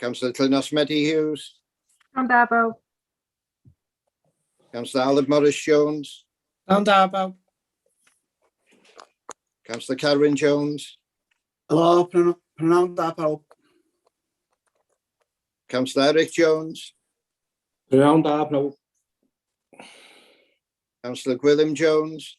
Councillor Clunas Medi Hughes. Down Darbow. Councillor Aled Morris Jones. Down Darbow. Councillor Carwyn Jones. Hello, pronoun da pawb. Councillor Eric Jones. Pronoun da pawb. Councillor Gwilym Jones.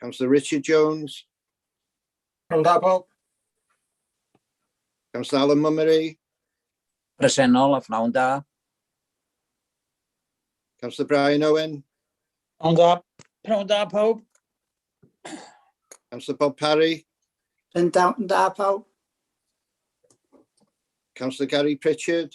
Councillor Richard Jones. Yn da, Bob. Councillor Alan Mummery. Presennol a phnawn da. Councillor Brian Owen. Pnawn da. Pnawn da, pawb. Councillor Bob Parry. Yn da, yn da, pawb. Councillor Gary Pritchard.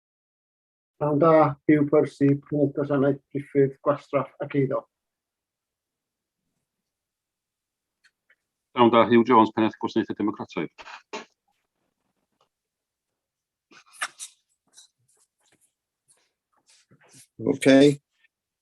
Pan da yw Percy, Prif Gwasanaeth Priffyrdd, Gwastraff ac Eiddo. Llawn da Hugh Jones, Pennaeth Gwasanaethau Democrataidd. OK.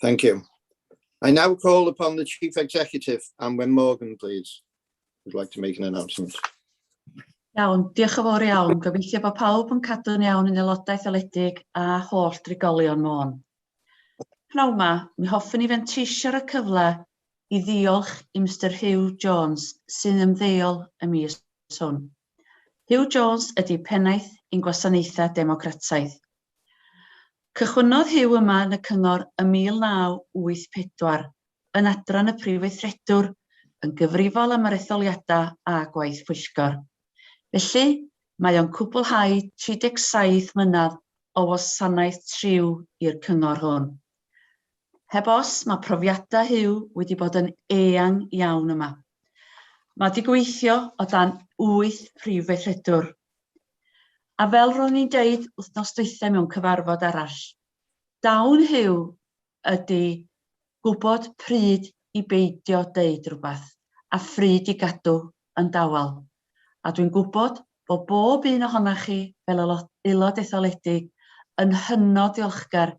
Thank you. I now call upon the Chief Executive, Anwen Morgan, please, who'd like to make an announcement. Iawn, diolch yn fawr iawn. Gobeithio bod pawb yn cadw'n iawn yn aelodau thaledig a holl drigolion Môn. Pnawn ma, mi hoffwn i fenteisio'r y cyfle i ddiolch i Mr Hugh Jones, sy'n ymddeol y mis hwn. Huw Jones ydy Pennaeth i'n Gwasanaethau Democrataidd. Cychwynnodd Huw yma yn y Cyngor ym 1984, yn adran y Prifweithredwr, yn gyfrifol am yr etholiadau a gwaith pwyllgor. Felly, mae o'n cwblhau 37 mlynedd o wasanaeth triw i'r Cyngor hwn. Heb os, mae profiadau Huw wedi bod yn eang iawn yma. Mae wedi gweithio o dan wyth prif weithredwr. A fel ro'n i'n deud wythnos dwythau mewn cyfarfod arall, dawn Huw ydy gwybod pryd i beidio deud rhywbeth a phryd i gadw yn dawel. A dwi'n gwybod bod bob un ohonoch chi fel aelod etholedig yn hynod ddiolchgar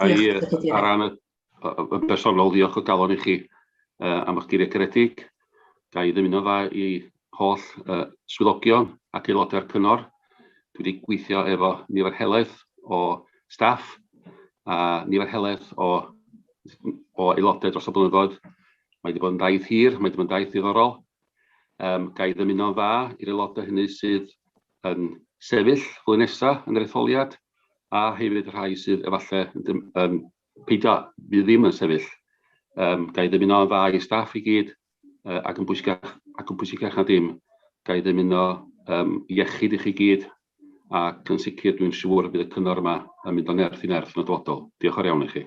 Ga'i, ar ran y bersonol, ddiolch o galon i chi am eich geiriau caredig. Ga'i ddymuno dda i holl swyddogion ac aelodau'r cyngor. Dwi wedi gweithio efo nifer helaeth o staff a nifer helaeth o, o aelodau dros y blynyddoedd. Mae wedi bod yn daith hir, mae wedi bod yn daith ddiddorol. Um, ga'i ddymuno'n dda i'r aelodau hynny sydd yn sefyll flwyddyn nesa yn yr etholiad, a hefyd y rhai sydd efallai yn dim- yn peidio, fydd ddim yn sefyll. Yym, ga i ddymuno yn dda i staff i gyd, yy, ac yn bwysicach, ac yn bwysicach na dim, ga i ddymuno yym iechyd i chi gyd, ac yn sicr dwi'n siŵr y bydd y cyngor yma yn mynd o nerth i nerth yn y dyfodol. Diolch o'r iawn i chi.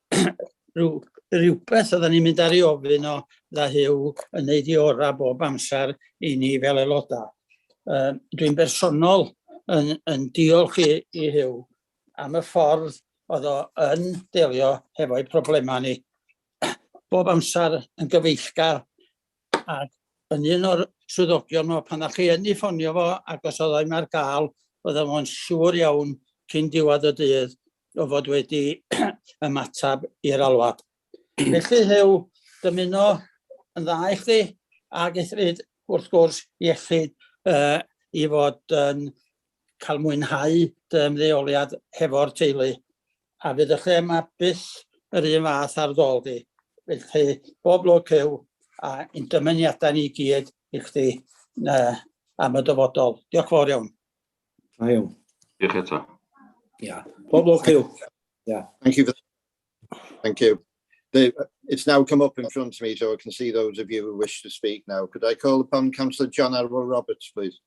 rhyw, rhywbeth oedden ni'n mynd ar ei ofyn o dda hyw yn neud i ora bob amser i ni fel aelodau. Uh, Dwi'n bersonol yn, yn diolch i, i hyw am y ffordd oedd o yn delio hefo'i problemau ni. Bob amser yn gyfeillgar ac yn un o'r swyddogion o pan o'ch chi yn ei ffonio fo ac os oedd o'n ar gael oedden nhw'n siŵr iawn cyn diwedd y dydd o fod wedi ymateb i'r alwad. Felly Huw, dymuno yn dda i chdi ac eithrid wrth gwrs iechyd uh, i fod yn cael mwynhau dy ymddeoliad hefo'r teulu. A fydd y thema byth yr un fath ar ddol di. Felly, bob lwc yw a yn dymuniadau ni gyd i chdi uh, am y dyfodol. Diolch fawr iawn. Da iawn. Diolch eto. Yeah. Bob lwc yw. Yeah. Thank you. Thank you. They, it's now come up in front of me, so I can see those of you who wish to speak now. Could I call upon Councillor John Arwell Roberts, please?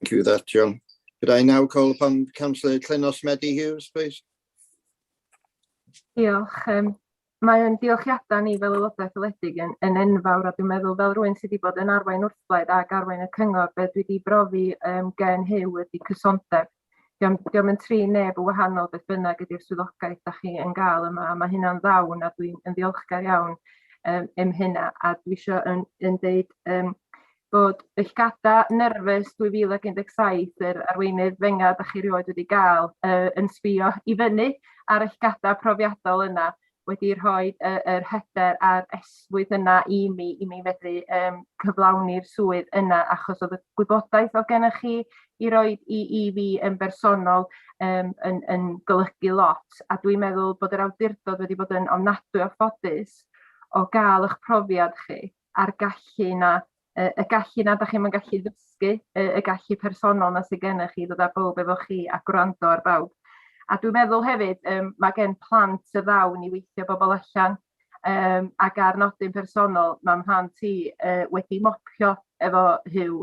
Thank you for that, John. Could I now call upon Councillor Clenos Medi Hughes, please? Diolch. Um, Mae'n diolchiadau ni fel aelodau ethyledig yn, yn enfawr a dwi'n meddwl fel rhywun sydd wedi bod yn arwain wrthblaid ac arwain y cyngor, beth dwi wedi brofi um, gen Huw ydy cysondeb Diom, diom yn tri neb yn wahanol beth bynnag ydy'r swyddogaeth da chi yn gael yma, a mae hynna'n ddawn a dwi'n yn ddiolchgar iawn um, am hynna, a dwi eisiau yn, yn deud um, bod eich gada nerfus 2017 yr arweinydd fenga da chi rioed wedi gael uh, yn sbio i fyny ar eich gada profiadol yna wedi rhoi y, yr hyder a'r esmwyth yna i mi, i mi fedru um, cyflawni'r swydd yna, achos oedd y gwybodaeth oedd gennych chi i roi i, i fi yn bersonol um, yn, yn golygu lot, a dwi'n meddwl bod yr awdurdod wedi bod yn ofnadwy o ffodus o gael eich profiad chi. a'r gallu yna, y, y gallu yna da chi'n gallu ddysgu, y, y gallu personol yna sydd gennych chi, ddod â bawb efo chi a gwrando ar bawb. A dwi'n meddwl hefyd, um, mae gen plant y ddawn i weithio bobl allan, um, ac ar nodyn personol, mae'n rhan ti uh, wedi mopio efo hyw,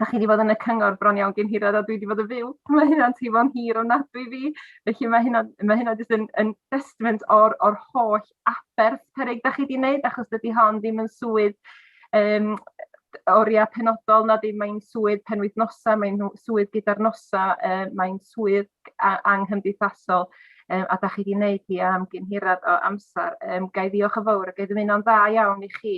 da chi wedi bod yn y cyngor bron iawn gen hirad a dwi wedi bod yn fyw. Mae hynna'n teimlo'n hir o nad dwi fi. Felly mae hynna, mae hynna jyst yn, yn testament o'r, or holl aberth perig da chi wedi wneud achos dydy hon ddim yn swydd um, oriau penodol na ddim mae'n swydd penwythnosau, mae'n swydd gyda'r nosau, uh, mae'n swydd anghymdeithasol um, a da chi wedi wneud hi am gynhirad o amser. Um, gai ddiolch yn fawr a gai ddymuno'n dda iawn i chi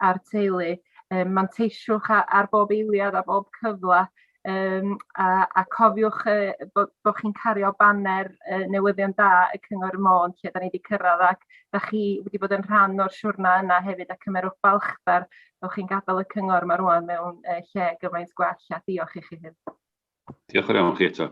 a'r teulu. Um, manteisiwch ar, ar bob eiliad, a bob cyfle, um, a, a cofiwch uh, bod, bod chi'n cario baner uh, newyddion da y Cyngor y Môn lle da ni wedi cyrraedd ac da chi wedi bod yn rhan o'r siwrna yna hefyd a cymerwch balchder bod chi'n gadael y Cyngor yma rwan mewn uh, lle gymaint gwell a diolch i chi hyn. Diolch yn iawn chi eto.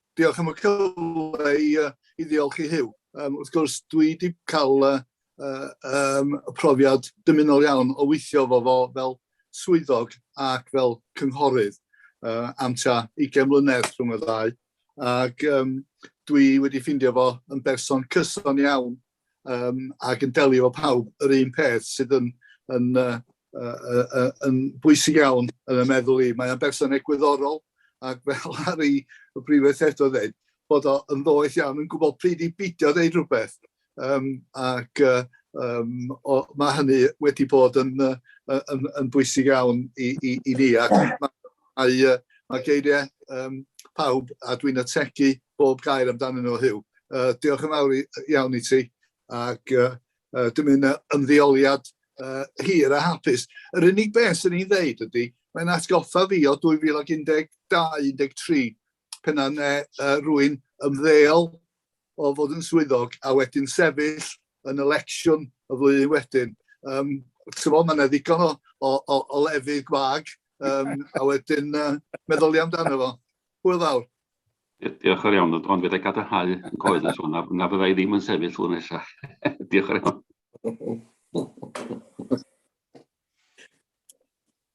Diolch am y cyfle i, uh, i ddiolch i Huw. Um, wrth gwrs, dwi wedi cael uh, um, y profiad dymunol iawn o weithio fo fo fel swyddog ac fel cynghorydd uh, am tua 20 mlynedd rhwng y ddau. Ac um, dwi wedi ffindio fo yn berson cyson iawn um, ac yn delio efo pawb yr un peth sydd yn, yn, uh, uh, uh, yn bwysig iawn yn y meddwl i. Mae'n berson egwyddorol ac fel ar ei brifedd eto ddweud, bod o yn ddoeth iawn yn gwybod pryd i bidio ddeud rhywbeth. Um, ac uh, um, o, mae hynny wedi bod yn, uh, yn, yn bwysig iawn i, i, i ni ac mae A ie, mae geiriau um, pawb, a dwi'n ategu bob gair amdanyn nhw, Huw. Uh, diolch yn fawr iawn i ti, ac uh, uh, dim un ymddeoliad uh, hir a hapus. Yr unig beth sy'n ei ddeud ydy, mae'n atgoffa fi o 2012-13, penna ne uh, rwy'n ymddeol o fod yn swyddog a wedyn sefyll yn y lecsiwn y flwyddyn wedyn. Um, Tyfo, mae'n eddigon o, o, o, o lefydd gwag, um, a wedyn uh, meddwl i amdano fo. Hwyl fawr. Diolch yn iawn, ond fydda i gadarnhau yn coeddus hwn, na fydda i ddim yn sefyll hwn nesaf. Diolch yn iawn.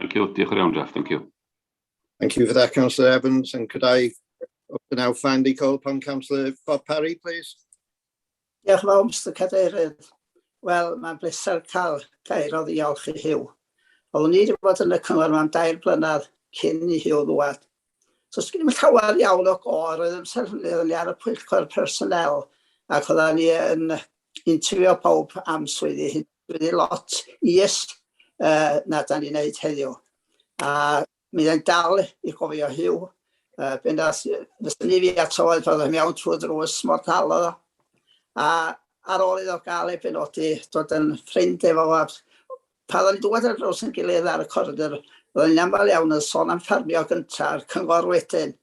Thank you. Diolch yn iawn, Jeff. Thank you. Thank you for that, Councillor Evans. And could I now finally call upon Councillor Bob Parry, please? Diolch yn fawr, Mr Cadeirydd. Wel, mae'n bleser cael gair o ddiolch i Hugh. Oeddwn i wedi bod yn y cyngor yma am dair blynedd cyn i Hugh ddwad. So, sgyn i'n llawer iawn o gor, oedd yn sefydlu ar y pwyllgor personel, ac oedden ni yn interfio pawb am swyddi hyn, swyddi lot is uh, na da ni'n neud heddiw. A mi ddyn dal i gofio hiw, uh, ben as, fysyn ni fi ato oedd fod yn iawn trwy drws mor tal oedd o. A ar ôl iddo gael ei benodi, dod yn ffrind efo fo, Pan ro'n i'n dŵad ar draws ein gilydd ar y coridor, ro'n i'n aml iawn yn son am ffarmio gynta a'r cyngor wedyn.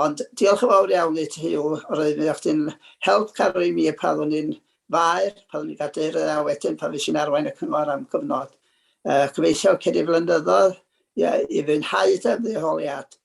Ond diolch yn fawr iawn i ti Huw, roedd mi o chdi'n help caro i mi pan ro'n i'n faer, pan ro'n i'n gadeirydd a wedyn pan fues i'n arwain y cyngor am gyfnod. Yy, gobeithio cei di flynyddoedd i fwynhau dy ymddiheuriad.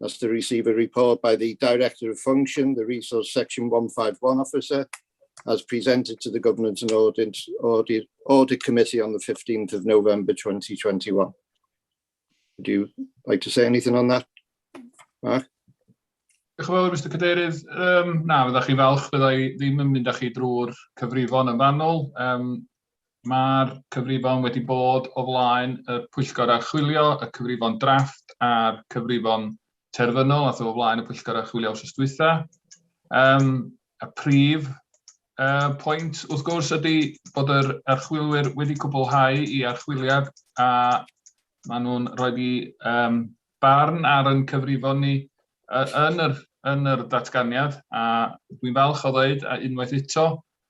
That's to receive a report by the Director of Function, the Resource Section 151 Officer, as presented to the Governance and Audit, Audit, Audit Committee on the 15th of November 2021. Would you like to say anything on that, Mark? Diolch yn fawr, Mr Cadeirydd. Um, na, fydda chi falch, fydda i ddim yn mynd â chi drwy'r cyfrifon yn fanwl. Um, Mae'r cyfrifon wedi bod o flaen y Pwyllgor Archwilio, y cyfrifon drafft a'r cyfrifon terfynol a o flaen y Pwyllgor Archwilio wrth ysdwytha. Um, y prif uh, pwynt, wrth gwrs, ydy bod yr archwilwyr wedi cwblhau i archwiliad a maen nhw'n rhoi i um, barn ar yn cyfrifon ni yn yr, yn yr datganiad a dwi'n falch o ddweud a unwaith eto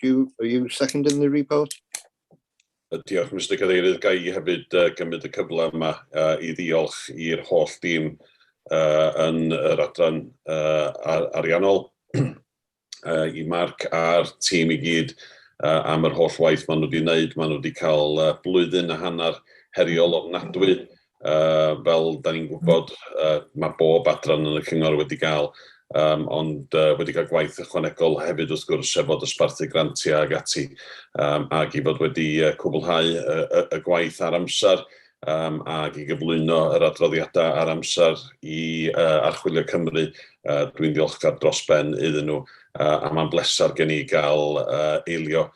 Do you, are you seconding the report? Diolch, Mr Cadeirydd. Ga i hefyd uh, gymryd y cyfle yma uh, i ddiolch i'r holl dîm uh, yn yr adran uh, ar ariannol, uh, i Mark a'r tîm i gyd uh, am yr holl waith maen nhw wedi wneud. Maen nhw wedi cael uh, blwyddyn a hanner heriol ofnadwy Yy fel 'dan ni'n gwbod yy ma' bob adran yn y cyngor wedi ga'l yym ond yy wedi ca'l gwaith ychwanegol hefyd wrth gwrs sef fod dosbarthu grantia ag ati yym ag i fod wedi yy cwblhau y y y gwaith ar amsar yym ag i gyflwyno yr adroddiada ar amsar i yy Archwilio Cymru yy dwi'n ddiolchgar dros ben iddyn nhw yy a ma'n bleser gen i ga'l yy eilio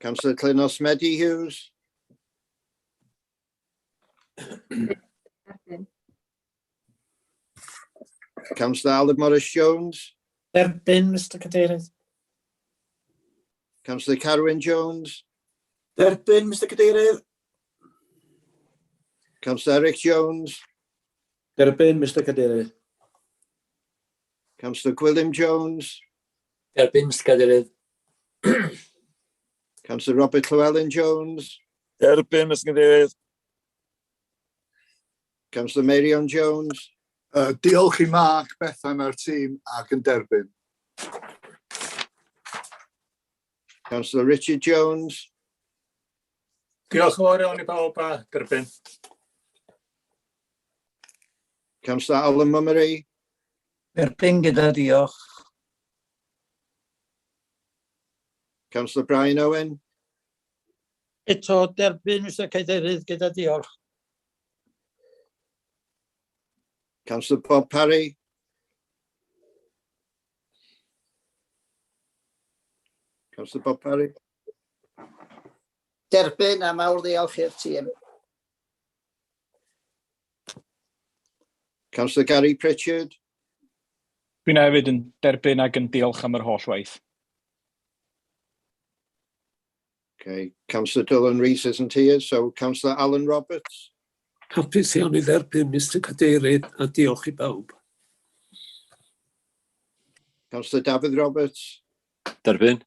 Councillor Clynos Medi Hughes. Councillor Aled Morris Jones. Derbyn, Mr Cadeirydd. Councillor Carwyn Jones. Derbyn, Mr Cadeirydd. Councillor Eric Jones. Derbyn, Mr Cadeirydd. Councillor Gwilym Jones. Derbyn, Mr Cadeirydd. Councillor Robert Llewellyn Jones. Derbyn, Mr Cadeirydd. Councillor Marion Jones. Uh, diolch i Mark, Bethan a'r tîm ac yn derbyn. Councillor Richard Jones. Diolch yn fawr iawn i bawb a derbyn. Councillor Alan Mummery. Derbyn gyda diolch. Councillor Brian Owen. Eto derbyn, Mr Cadeirydd, gyda diolch. Councillor Bob Parry. Councillor Bob Parry. Derbyn a mawr ddiolch i'r tîm. Councillor Gary Pritchard. Dwi'n hefyd yn derbyn ac yn diolch am yr holl waith. Okay, Councillor Dylan Rees isn't here, so Councillor Alan Roberts. Hapus iawn i dderbyn, Mr Cadeirydd, a diolch i bawb. Councillor Dafydd Roberts. Derbyn.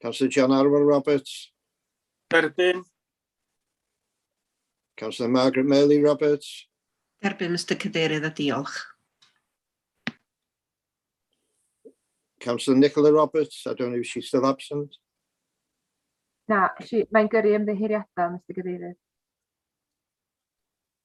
Councillor John Arwel Roberts. Derbyn. Councillor Margaret Meili Roberts. Derbyn, Mr Cadeirydd, a diolch. Councillor Nicola Roberts, I don't know if she's still absent. Na, mae'n gyrru ymddeheuriadau, Mr Cadeirydd.